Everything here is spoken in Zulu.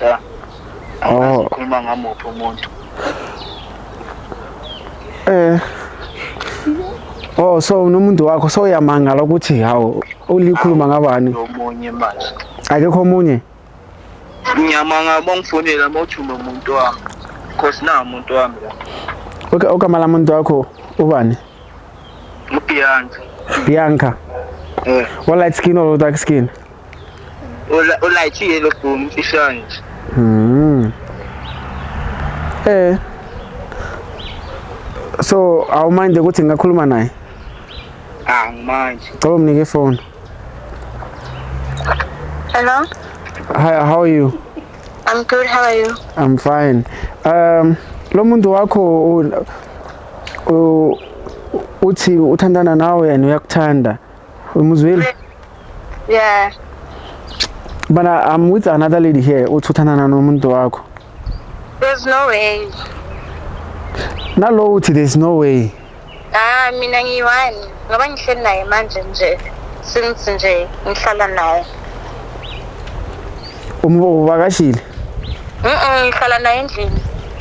ya angazi oh. ukhuluma ngamuphi umuntu eh Oh so nomuntu wakho so uyamangala ukuthi hawo ulikhuluma ngabani? Omunye manje. Akekho omunye. Ngiyamanga bongifonela mawuthuma umuntu wami. Cause na umuntu wami la. Okay, ogama la muntu wakho ubani? Ubianca. Bianca. Eh. Wa light skin or dark skin? Ula- ulayithiye lo bhumi imfihlo nje Mm. Eh. So awuminde ukuthi ngingakhuluma naye. ah manje Cela umnike ifoni. Hello, Hi, how are you? I'm good. How are you? I'm fine. Um lo muntu wakho u- u- uthi uthandana nawe and uyakuthanda. Muzweli? Yeah. But I, I'm with another lady here othuthana nomuntu wakho. There's no way. Nalo uthi there's no way. Ah mina ngiyiwani ngoba ngihleli naye manje nje since nje ngihlala naye. Umbo ubakashile? Mhm ngihlala naye endlini.